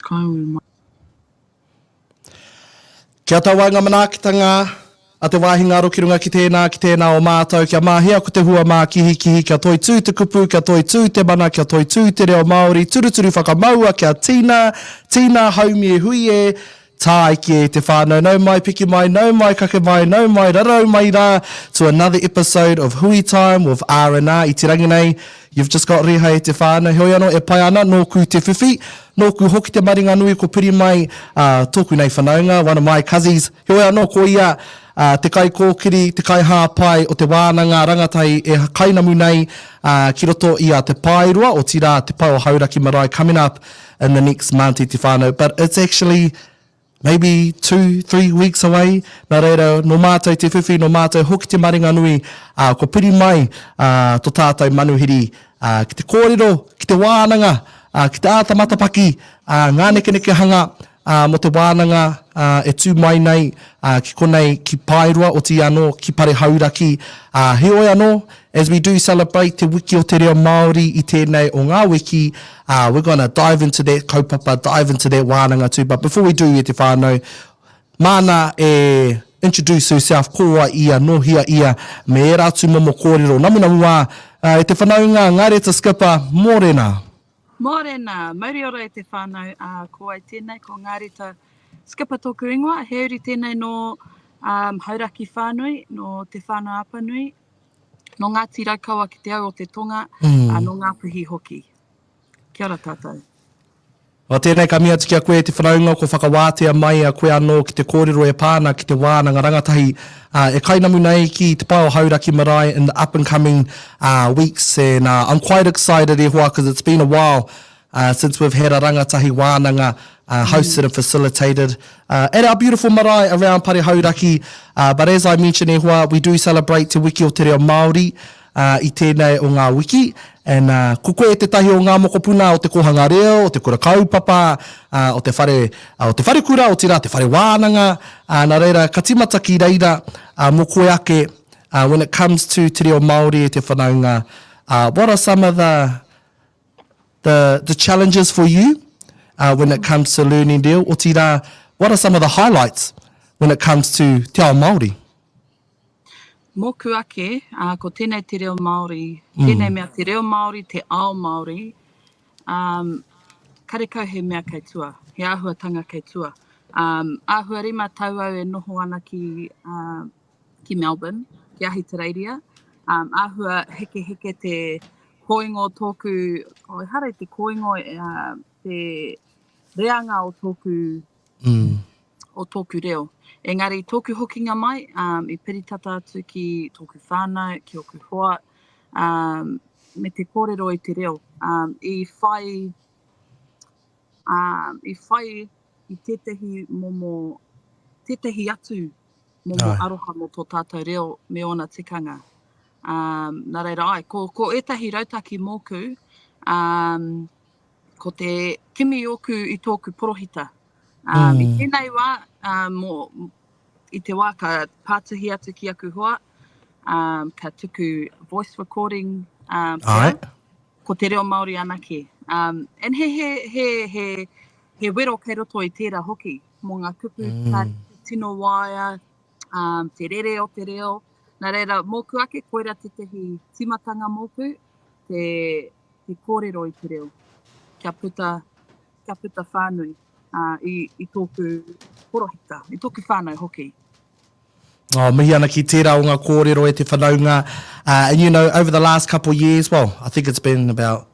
Kāore mai. Kia tau ai ngā manaakitanga a te wāhi ngaro ki runga ki tēnā, ki tēnā o mātou, kia mahia ko te hua mākihikihi, kia toitū te kupu, kia toitū te mana, kia toitū te reo Māori, turuturu whakamaua, kia tina, tina, haumi e hui e, tāiki e te whānau, nau mai, piki mai, nau mai, kake mai, nau mai, rarau mai rā to another episode of Hui Time with R&R i te rangi nei, you've just got Rīhai e te whānau, heoi anō e pai ana, nōku te whiwhi, Nōku hoki te maringa nui ko Piri Mai, ā, tōku nei whanaunga, one of my cuzzies, heoi anō ko ia te kaikōkiri, te kaihāpai o te wānanga rangatahi e kainamu nei ki roto i a Te Paeroa, otirā Te Pae o Hauraki Marae coming up in the next month i te whānau, but it's actually maybe two, three weeks away, nā reira, nō mātou te whiwhi, nō mātou hoki te maringanui, ā, kua piri mai ā, tō tātou manuhiri ā, ki te kōrero, ki te wānanga, ā, ki te āta matapaki, ā, ngā nekenekehanga ā, mō te wānanga ā, e tū mai nei ā, ki konei, ki Paerua, otirā anō ki Pare Hauraki, ā, heoi anō, As we do celebrate Te Wiki o te Reo Māori i tēnei o ngā wiki, we're gonna dive into that kaupapa, dive into that wānanga too, but before we do e te whānau, māna e introduce herself, ko wai ia, nō hea ia, me ērā atu momo kōrero namunamu wā, e te whanaunga Ngareta Skipper, mōrena! Mōrena! Mauri ora e te whānau, ko wai tēnei, ko Ngareta Skipper tōku ingoa, he uri tēnei nō Hauraki whānui, nō Te Whānau-a-Apanui, Nō Ngāti Raukawa ki te au o te tonga, mm. ā, nō Ngāpuhi hoki. Kia ora tātou. Nā tēnei ka mihi atu ki a koe e te whanaunga kua whakawātea mai a koe anō ki te kōrero e pā ana ki te wānanga rangatahi uh, e kainamu nei ki te pae o Hauraki Marae in the up and coming uh, weeks and uh, I'm quite excited e hoa because it's been a while Uh, since we've had a rangatahi wānanga uh, hosted and facilitated uh, at our beautiful marae around Pare Hauraki. Uh, but as I mentioned e hoa, we do celebrate Te Wiki o Te Reo Māori uh, i tēnei o ngā wiki. And uh, ko koe e tētahi o ngā mokopuna o te kōhanga reo, o te kura kaupapa, uh, o, te whare, uh, o te whare kura, o tira, te whare wānanga. Uh, nā reira, ka timata ki reira uh, mō koe ake uh, when it comes to Te Reo Māori e te whanaunga. Uh, what are some of the the challenges for you when it comes to learning reo, otirā, what are some of the highlights when it comes to te ao Māori? Mōku ake, ko tēnei te reo Māori, tēnei mea te reo Māori, te ao Māori, karekau he mea kei tua, he āhuatanga kei tua. Āhua rima tau au e noho ana ki ki Melbourne, ki Ahitereiria, um, āhua heke heke te koingo tōku, o oh, ehara te koingo, uh, te reanga o tōku, mm. o tōku reo. Engari, tōku hokinga mai, um, i peritata atu ki tōku whānau, ki oku hoa, um, me te kōrero i te reo. Um, I whai, um, i whai i tētahi momo, tētahi atu momo aroha mō tō tātou reo me ōna tikanga. Um, nā reira ai, ko, ko ētahi rautaki mōku, um, ko te kimi ōku i tōku porohita. Um, mm. I tēnei wā, um, mō, i te wā ka pātuhi atu ki aku hoa, um, ka tuku voice recording um, pia, ko te reo Māori anake. Um, and he, he, he, he, he wero kei roto i tērā hoki. mō ngā kupu ka tino waea, um, te rere o te reo. Nā reira, mōku ake, koira tētahi tīmatanga mōku, te, te kōrero i te reo. Kia puta, kia puta whānui uh, i, i tōku porohita, i tōku whānau hoki. Oh, mihi ana ki tera o nga korero e te whanaunga. Uh, and you know, over the last couple years, well, I think it's been about,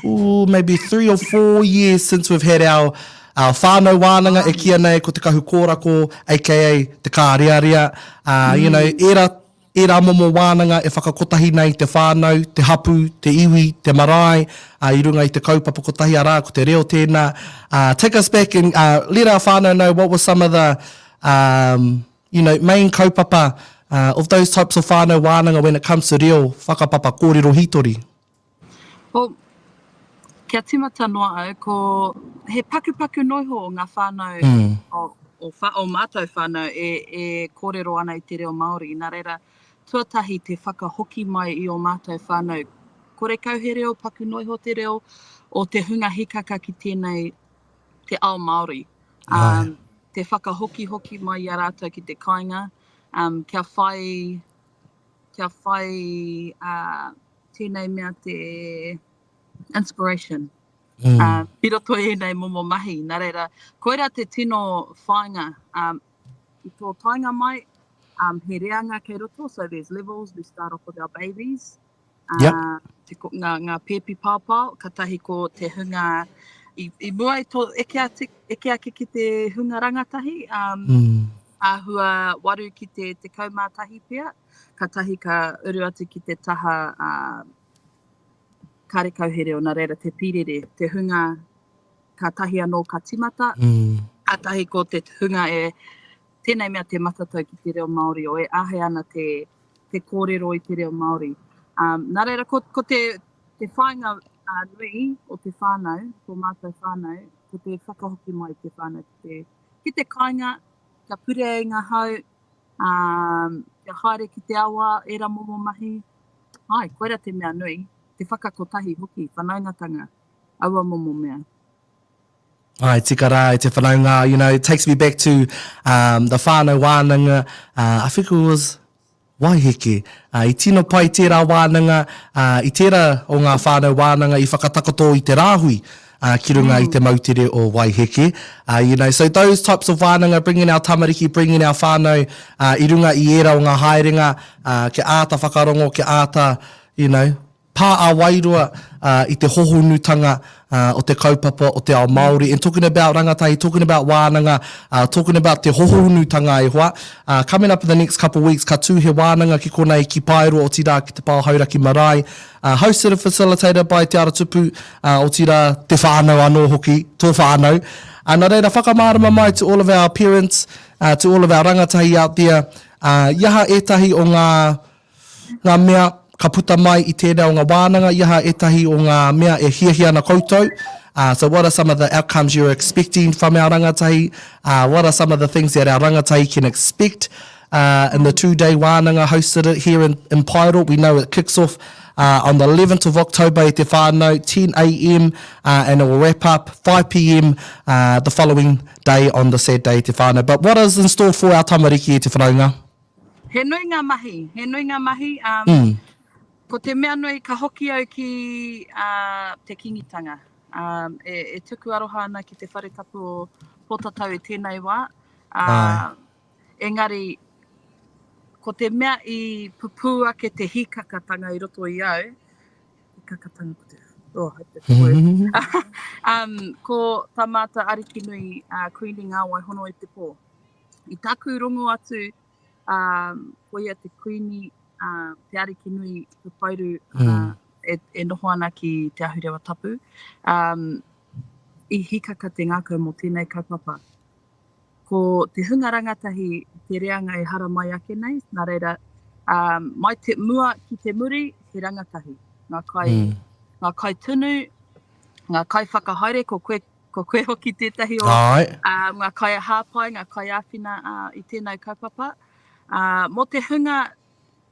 ooh, maybe three or four years since we've had our uh, whānau wānanga e kia nei ko te kahu kōrako, aka te kārearea. Uh, mm. You know, mm. era e rā momo wānanga e whakakotahi nei te whānau, te hapu, te iwi, te marae, uh, i runga i te kaupapa kotahi arā, ko te reo tēnā. Uh, take us back and uh, let our whānau know what were some of the um, you know, main kaupapa uh, of those types of whānau wānanga when it comes to reo, whakapapa, kōrero hītori? Well, kia tīmata noa au, ko he pakupaku noiho o ngā whānau mm. o, o, wha, o mātou whānau e, e kōrero ana i te reo Māori. Nā reira, tuatahi te whakahoki mai i o mātou whānau. Korekau he reo, paku noiho te reo, o te hunga hikaka ki tēnei te ao Māori, um, te whakahokihoki mai i a rātou ki te kāinga, um, kia whai, kia whai uh, tēnei mea te inspiration. Mm. Uh, i roto i ēnei momo mahi, nā reira, koira te tino whāinga. Um, I tō tainga mai, um, he reanga kei roto, so there's levels, we start off with our babies, Yep. Nga, nga pēpi pāpāo, katahi ko te hunga, i, i mua i tō eke, ati, eke ake ki te hunga rangatahi, um, mm. āhua waru ki te te kaumātahi pia, katahi ka uru atu ki te taha uh, kārekau here o nā reira te pīrere, te hunga ka tahi anō ka timata, mm. atahi ko te hunga e Tēnei mea te matatau ki te reo Māori o e āhei ana te te kōrero i te reo Māori. Ā, nā reira, ko, ko te, te whāinga ā, nui o te whānau, tō mātou whānau, ko te whakahoki mai te whānau ki te, ki te kāinga, kia purea i ngā hau, ā, kia haere ki te awa, ērā momo mahi. Āe, koira te mea nui, te whakakotahi hoki, whanaungatanga, aua momo mea. Hai tika rā e te whanaunga, you know, it takes me back to um, the whānau wānanga, uh, I think it was Waiheke. Uh, i tino pai tērā wānanga, uh, i tērā o ngā whānau wānanga i whakatakoto i te rāhui uh, ki runga mm. i te moutere o Waiheke. Uh, you know, so those types of wānanga, bringing our tamariki, bringing our whānau uh, i runga i ērā o ngā haerenga, uh, ke āta whakarongo, ke āta, you know, Pā a Wairua i te hohonutanga o te kaupapa o te ao Māori and talking about rangatahi, talking about wānanga, talking about te hohonutanga e hoa. Coming up in the next couple weeks ka tū he wānanga ki konei ki Paeroa otirā ki te Pao Hauraki Marae. Hosted and facilitated by Te Ara Tupu otirā te whānau anō hoki, tō whānau. Nā reira whakamārama mai to all of our parents, to all of our rangatahi out there, i aha ētahi o ngā Ngā mea ka puta mai i tēnei o ngā wānanga, i aha ētahi o ngā mea e hiahia ana koutou? So what are some of the outcomes you're expecting from our rangatahi? What are some of the things that our rangatahi can expect in the two-day wānanga hosted it here in in Paero? We know it kicks off on the 11th of October e te whānau, 10 AM, and it will wrap up 5 PM the following day on the said day e te whānau. But what is in store for our tamariki e te whanaunga? He nui nga mahi, he nui nga mahi, ko te mea nui ka hoki au ki te Kingitanga. E tuku aroha ana ki te whare tapu o Potatau i tenei wa, engari ko te mea i pupu ake te hikakatanga i roto i au, hikakatanga ko te, oh hope that's the word, ko ta mata Arikinui, Kuini Ngawai hono i te po. I taku rongo atu, um, ko ia te kuini, uh, te ariki nui, te whairu, mm. uh, e, e noho ana ki Te Ahurewa Tapu. Um, I hikaka te ngākau mō tēnei kaupapa. Ko te hunga rangatahi te reanga e hara mai ake nei, nā reira, um, mai te mua ki te muri, he rangatahi. Ngā kai, mm. ngā kai tunu, ngā kai whakahaere, ko koe, Ko koe hoki tētahi o ngā kaiahāpai, ngā kaiāwhina i tēnei kaupapa. Mō te hunga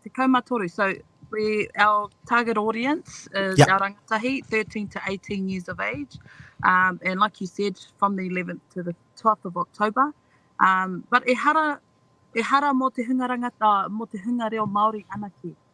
13, so we, our target audience is yep. our rangatahi, 13 to 18 years of age. Um, and like you said, from the 11th to the 12th of October. Um, but e hara, e hara mō te hunga rangata, mō te hunga reo Māori anake.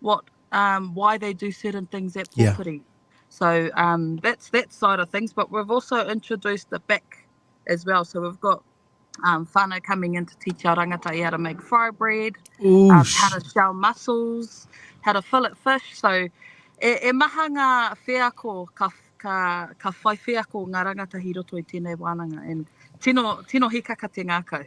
what um, why they do certain things at Pōwhiri. Yeah. So um, that's that side of things. But we've also introduced the back as well. So we've got um, whānau coming in to teach our rangatahi how to make fry bread, um, how to shell mussels, how to fillet fish. So e, e maha ngā wheako ka, ka, ka whai wheako ngā rangatahi roto i tēnei wānanga. And tino, tino hikaka te ngākau.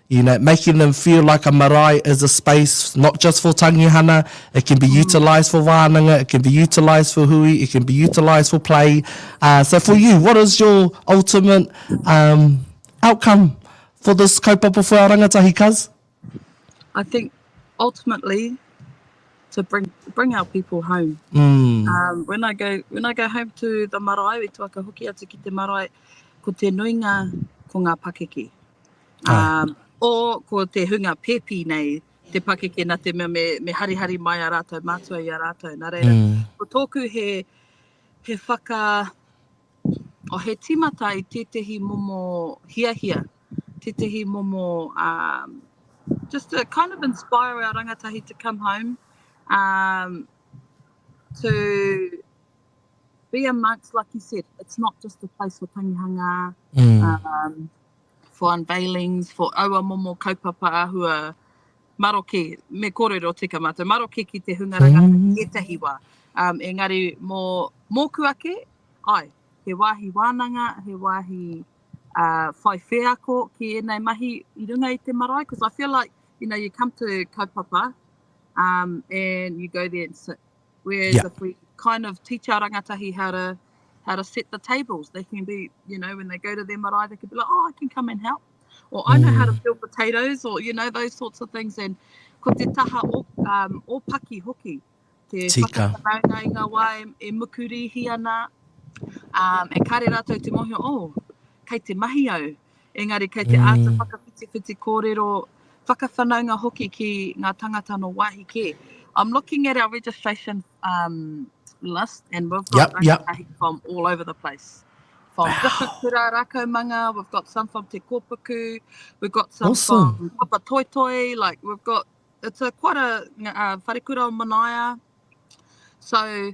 you know, making them feel like a marae is a space not just for tangihana, it can be utilised for wānanga, it can be utilised for hui, it can be utilised for play. Uh, so for you, what is your ultimate um, outcome for this kaupapa whea rangatahi, cuz? I think ultimately to bring bring our people home. Mm. Um, when I go when I go home to the marae, we tuaka hoki atu ki te marae, ko te nuinga ko ngā pakeke. ō, ko te hunga pēpi nei te pakeke nā te mea me harihari mai a rātou mātua i a rātou. Nā reira, ko tōku he whaka, o he timata i tētehi momo hiahia, tētehi momo, just to kind of inspire our rangatahi to come home, to be amongst, like you said, it's not just a place for tangihanga, for unveilings, for aua momo kaupapa āhua maroke, me kōrero tika mātou, maroke ki te hunga rangatahi ētahi wā. Um, engari, mō, mōku ake, ai, he wāhi wānanga, he wāhi uh, whai wheako ki ēnei mahi i runga i te marae, because I feel like, you know, you come to kaupapa, um, and you go there and sit, Whereas yeah. if we kind of teach our rangatahi how to how to set the tables, they can be, you know, when they go to their marae, they can be like, oh, I can come and help. Or I know how to mm. peel potatoes, or, you know, those sorts of things. And ko te taha o, um, o paki hoki, te Tika. whakataraunga i ngā wā e, e mukurihi ana, um, e kare rātou te mohio, oh, kei te mahi au, Engari kei te āta whakawhitiwhiti kōrero, whakawhanaunga hoki ki ngā tangata nō wāhi kē. I'm looking at our registration um, list and we've got yep, yep. from all over the place. From wow. different kura rākaumanga, we've got some from Te Kōpuku, we've got some awesome. from Papa Toi Toi, like we've got, it's a quite a uh, wharekura o Manaia. So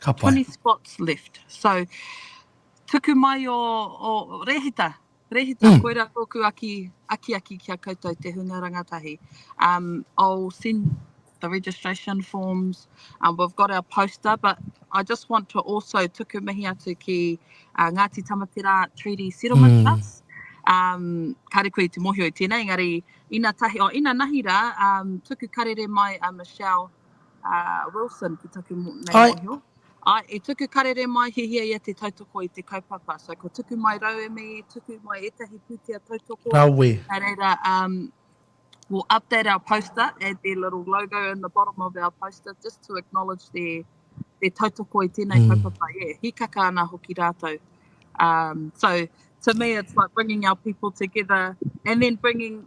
Ka pai. 20 spots left. So, tuku mai o, o Rehita. Rehita, mm. koira tōku aki, aki aki ki a koutou te hunga rangatahi. Um, I'll send the registration forms. Um, we've got our poster, but I just want to also tuku mihi atu ki uh, Ngāti Tamatera Treaty Settlement mm. Trust. Um, kāre koe te mohio i tēnei, engari ina tahi, o oh, ina nahi rā, um, tuku karere mai a Michelle Wilson, ki taku nei mohio. Ai, i tuku karere mai, hihia ia te tautoko i te kaupapa. So, ko tuku mai rauemi, tuku mai etahi putia tautoko. Rawe. Nā reira, um, we'll update our poster, add their little logo in the bottom of our poster, just to acknowledge their, their tautoko i tēnei mm. kaupapa. Yeah, hikaka ana hoki rātou. Um, so, to me, it's like bringing our people together and then bringing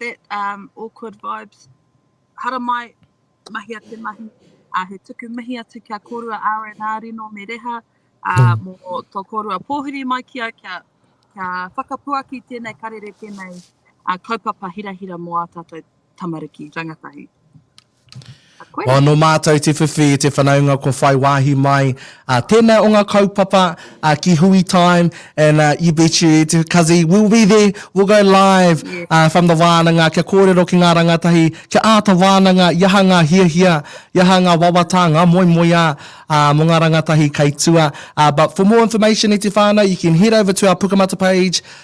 That um, awkward vibes. Haramai, mahi a te mahi. Uh, he tuku mihi atu kia kōrua RNA Rino me Reha uh, hmm. mō tō kōrua pōhiri mai ki au kia, kia whakapuaki tēnei karere tēnei uh, kaupapa hirahira mō a tātou tamariki rangatahi. Koe. No mātou te whiwhi i te whanaunga kua whai wāhi mai. Tēnā o ngā kaupapa ki Hui Time and you bet you it Kazi will be there, will go live from the wānanga kia kōrero ki ngā rangatahi, kia āta wānanga i aha ngā hiahia, i aha ngā wawata, ngā moemoeā mō ngā rangatahi kei tua. But for more information e te whānau you can head over to our Pukamata page.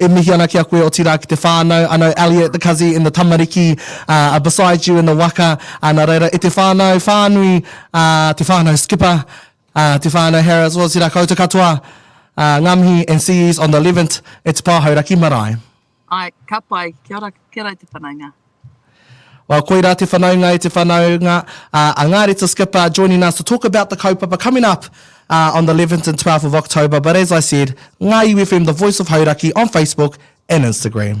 E mihi ana ki a koe otirā ki te whānau, I know Elliot, the kazi and the tamariki are beside you in the waka, nā reira e te whānau whānui, te whānau Skipper, te whānau Harris, otirā koutou katoa, ngā mihi and see yous on the eleventh at Te Pāho Raki Marae. Ae, ka pai, kia ora, kia ora e te whanaunga. Well, koira te whanaunga e te whanaunga, uh, a Ngāri Te Skipper joining us to talk about the kaupapa coming up uh, on the 11th and 12th of October. But as I said, Ngāi UFM, the voice of Hauraki on Facebook and Instagram.